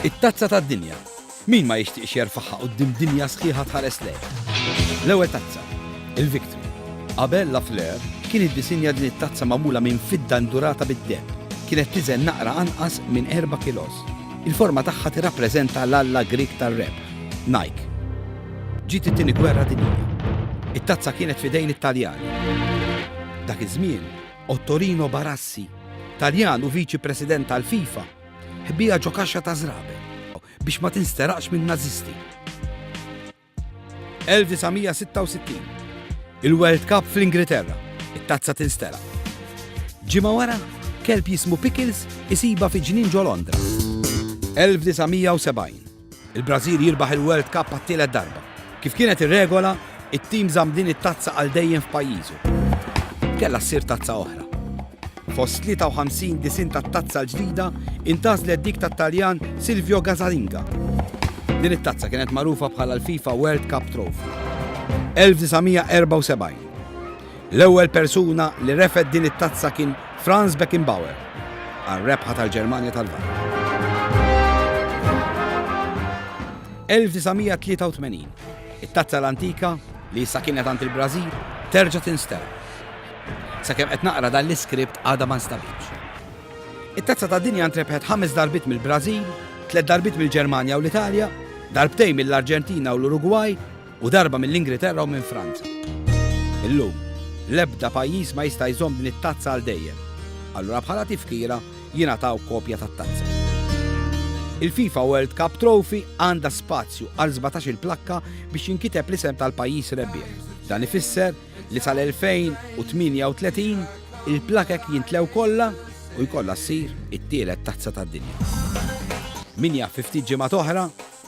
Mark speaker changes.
Speaker 1: It-Tazza tad-Dinja. Min ma jixtieqx jerfagħha quddiem dinja sħiħa tħares lejh? L-ewwel tazza, il-Victory. Qabel La Fleur kien iddisinja din it-tazza magħmula minn fidda ndurata bid-deheb. Kienet tiżen naqra anqas minn 4 kilos. Il-forma tagħha tirrappreżenta l-alla Grieg tar-rebħ, Nike. Ġiet it-tieni gwerra dinjija. It-tazza kienet fidejn it-Taljani. Dak iż-żmien, Ottorino Barassi, Taljan u viċi president tal-FIFA, Ħbija ġo kaxxa ta' żrabe biex ma tinsteraqx minn Nazisti. 1966. Il-World Cup fl-Ingilterra. It-tazza tinsteraq. Ġimgħa wara, kelb jismu Pickles isiba fi ġnien ġo Londra. 1970. Il-Brażil jirbaħ il-World Cup għat-tielet darba. Kif kienet ir-regola, it-tim żamm din it-tazza għal dejjem f'pajjiżu. Kellha ssir tazza oħra. Fost 53 disinn tat-tazza l-ġdida intgħażlet dik tat-Taljan Silvio Gazalinga. Din it-tazza kienet magħrufa bħala l-FIFA World Cup Trophy. 1974. L-ewwel persuna li refgħet din it-tazza kien Franz Beckenbauer għar-rebħa tal-Ġermanja tal-Lvant. 1983. It-tazza l-antika, li issa kienet għand il-Brażil, terġa' tinstema. Sakemm qed naqra dan l-iskript għadha ma nstabitx. It-tazza tad-dinja ntrebħet ħames darbiet mill-Brażil, tliet darbiet mill-Ġermanja u l-Italja, darbtejn mill-Arġentina u l-Urugwaj, u darba mill-Ingriterra u minn Franza. Illum, l-ebda pajjiż ma jista' jżomm din it-tazza għal dejjem. Allura bħala tifkira jingħataw kopja tat-tazza. Il-FIFA World Cup Trophy għandha spazju għal sbatax-il plakka biex jinkiteb l-isem tal-pajjiż rebbieħ. Dan ifisser li sal-2038 il-plakek jintlew kollha u jkollha ssir it-tielet tazza tad-dinja. Min jaf fi ftit ġimgħat oħra,